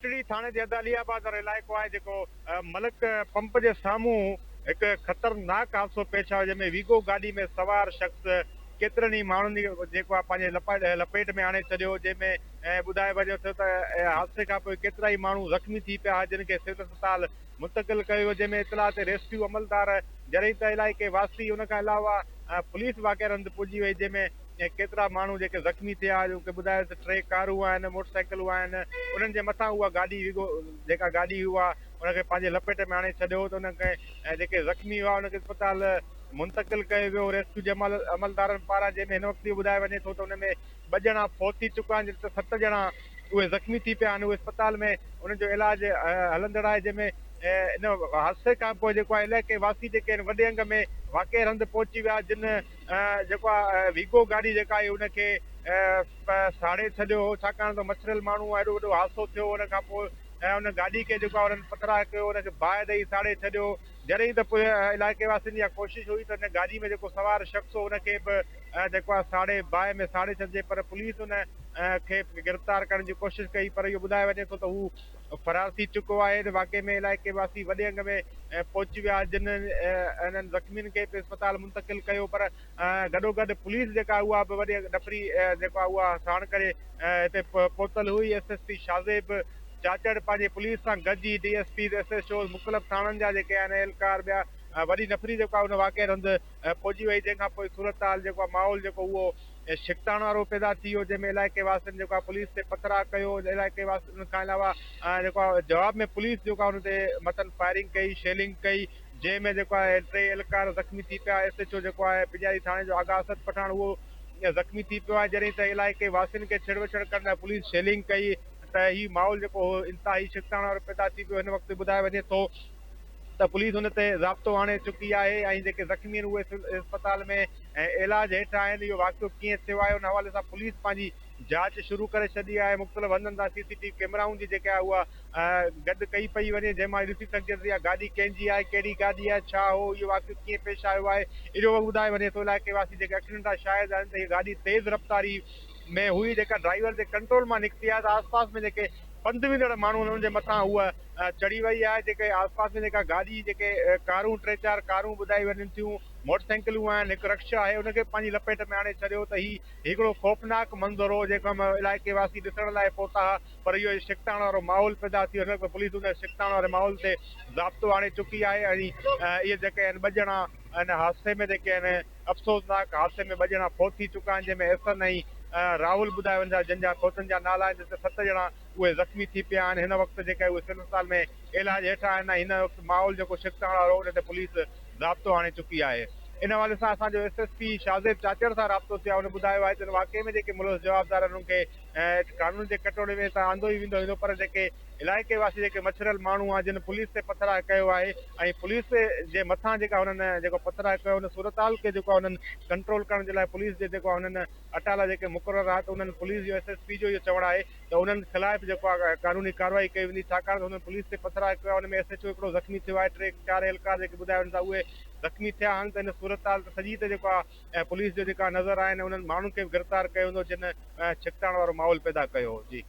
ٽڙي ٿاڻي جي حد علي آباد وارو علائقو آهي جيڪو ملڪ پمپ جي سامهون هڪ خطرناڪ حادثو پيش آيو جنهن ۾ ويگو گاڏي ۾ سوار شخص ڪيترن ئي ماڻهن کي جيڪو آهي پنهنجي لپيٽ ۾ آڻي ڇڏيو جنهن ۾ ٻڌايو وڃي ٿو ته حادثي کانپوء ڪيترا ئي ماڻهو زخمي ٿي پيا جن کي سول اسپتال منتقل ڪيو ويو جنهن ۾ اطلاع تي ريسڪيو عملدار جريده علائقي واسي ان کان علاوه پوليس واقعي هنڌ پڄي وئي جنهن ۾ ۽ ڪيترا ماڻهو جيڪي زخمي ٿيا جو ڪي ٻڌايو ته ٽي ڪارون آهن موٽر سائيڪلون آهن انهن جي مٿان اها گاڏي وڳو جيڪا گاڏي هئي اها ان کي پنهنجي لپيٽ ۾ آڻي ڇڏيو ته ان کي ۽ جيڪي زخمي هئا انهن کي اسپتال منتقل ڪيو ويو ريسڪيو جي عملدارن پاران جنهن ۾ هن وقت اهو ٻڌايو وڃي ٿو ته ان ۾ ٻه ڄڻا فوت ٿي چڪا آهن جڏهن ته ست ڄڻا اهي زخمي ٿي پيا آهن اهي اسپتال ۾ انهن جو علاج هلندڙ آهي جنهن ۾ ان حادثي کانپوء جيڪو آهي علائقي واسي جيڪي آهن وڏي انگ ۾ واقعي هنڌ پهچي ويا جن جيڪو آ ويگو گاڏي جيڪا آهي ان کي ساڙي ڇڏيو هو ڇاڪاڻ ته مڇريل ماڻهو آ ايڏو وڏو حادثو ٿيو ان کان پوء ان گاڏي کي جيڪو آ انهن پٿراء ڪيو ان کي باهه ڏئي ساڙي ڇڏيو جڏهن ته پوء علائقي واسين جي اها ڪوشش هئي ته ان گاڏي ۾ جيڪو سوار شخص هو ان کي به جيڪو آ ساڙي باهه ۾ ساڙي ڇڏجي پر پوليس ان کي گرفتار ڪرڻ جي ڪوشش ڪئي پر اهو ٻڌايو وڃي ٿو ته هو فرار ٿي چڪو آهي ته واقعي ۾ علائقي واسي وڏي انگ ۾ پهچي ويا جن انهن زخمين کي به اسپتال منتقل ڪيو پر گڏوگڏ پوليس جيڪا اها به وڏي ڏڦري جيڪو آهي اها ساڻ ڪري هتي پهتل هئي S S P Shahzaib Chachar پنهنجي پوليس سان گڏ ئي D S Ps S H Os مختلف ٿاڻن جا جيڪي آهن اهلڪار ٻيا وڏي ڏڦري جيڪو آهي ان واقعي هنڌ ۽ پوڄي وئي جنهن کان پوء صورتحال جيڪو آهي ماحول جيڪو اهو ڇڪتاڻ وارو پيدا ٿي ويو جنهن ۾ علائقي واسين جيڪو آهي پوليس تي پٿراء ڪيو علائقي واسين ان کان علاوه جيڪو آهي جواب ۾ پوليس جيڪو آهي ان تي مٿن فائرنگ ڪئي شيلنگ ڪئي جنهن ۾ جيڪو آهي ٽي اهلڪار زخمي ٿي پيا ايس ايڇ او جيڪو آهي پڄاري ٿاڻي جو آغا اسد پٺاڻ اهو زخمي ٿي پيو آهي جڏهن ته علائقي واسين کي ڇڙ وڇڙ ڪرڻ لاء پوليس شيلنگ ڪئي ته هي ماحول جيڪو هو انتهائي ڇڪتاڻ وارو پيدا ٿي پيو هن وقت ٻڌايو وڃي ٿو ته پوليس ان تي ضابطو آڻي چڪي آهي ۽ جيڪي زخمي آهن اهي سول اسپتال ۾ علاج هيٺ آهن، اهو واقعو ڪيئن ٿيو آهي ان حوالي سان پوليس پنهنجي جاچ شروع ڪري ڇڏي آهي، مختلف هنڌن تان سي سي ٽي وي ڪيمرائون جي جيڪا اها گڏ ڪئي پئي وڃي جنهن مان اهي ڏسي سگهجي ٿو ته اها گاڏي ڪنهن جي آهي، ڪهڙي گاڏي آهي، ڇا هو، اهو واقعو ڪيئن پيش آيو آهي، اهو وقت ٻڌائي وڃي ٿو، علائقي واسي جيڪي ايڪسيڊنٽ جا شاهد آهن ته اها گاڏي تيز رفتاري ۾ هئي جيڪا ڊرائيور جي ڪنٽرول مان نڪتي آهي ته آسپاس ۾ جيڪي پنڌ ويندڙ ماڻهو انهن جي مٿان هوء چڙهي وئي آهي جيڪي آس پاس ۾ جيڪا گاڏي جيڪي ڪارون ٽي چار ڪارون ٻڌائي وڃن ٿيون موٽر سائيڪلون آهن هڪ رڪشا آهي ان کي پنهنجي لپيٽ ۾ آڻي ڇڏيو ته هي هڪڙو خوفناڪ منظر هو جيڪو علائقي واسي ڏسڻ لاء پهتا ها پر اهو هي ڇڪتاڻ وارو ماحول پيدا ٿيو هن وقت پوليس ان ڇڪتاڻ واري ماحول تي ضابطو آڻي چڪي آهي ۽ اهي جيڪي آهن ٻه ڄڻا ان حادثي ۾ جيڪي آهن افسوسناڪ حادثي ۾ ٻه ڄڻا فوت ٿي چڪا آهن جنهن ۾ احسن ۽ راهول ٻڌايا وڃن ٿا جن جا فوتن جا نالا آهن جتي ست ڄڻا اهي زخمي ٿي پيا آهن هن وقت جيڪا اهي سول اسپتال ۾ علاج هيٺ آهن ۽ هن وقت ماحول جيڪو شڪتاڻ وارو ان تي پوليس ضابطو آڻي چڪي آهي ان حوالي سان اسان جو S S P Shahzaib Chachar سان رابطو ٿيو آهي هن ٻڌايو آهي ته ان واقعي ۾ جيڪي ملوث جوابدار آهن انهن کي ۽ قانون جي ڪٽهڙي ۾ ته آندو ئي ويندو ويندو پر جيڪي علائقي واسي جيڪي مڇريل ماڻهو آهن جن پوليس تي پٿراء ڪيو آهي ۽ پوليس جي مٿان جيڪا هنن جيڪو پٿراء ڪيو ان صورتحال کي جيڪو هنن ڪنٽرول ڪرڻ جي لاء پوليس جي جيڪو هنن اٽالا جيڪي مقرر آهي ته انهن پوليس جو ايس ايس پي جو اهو چوڻ آهي ته انهن خلاف جيڪو آهي قانوني ڪارروائي ڪئي ويندي ڇاڪاڻ ته هنن پوليس تي پٿراء ڪيو آهي ان ۾ ايس ايڇ او هڪڙو زخمي ٿيو آهي ٽي چار اهلڪار جيڪي ٻڌايو وڃن ٿا اهي زخمي ٿيا آهن ته ان صورتحال ته سڄي ته جيڪو آهي ۽ پوليس جا جيڪا نظر آهن انهن ماڻهن کي به گرفتار ڪيو ويندو جن ڇڪتاڻ وارو ماحول پيدا ڪيو هو جي.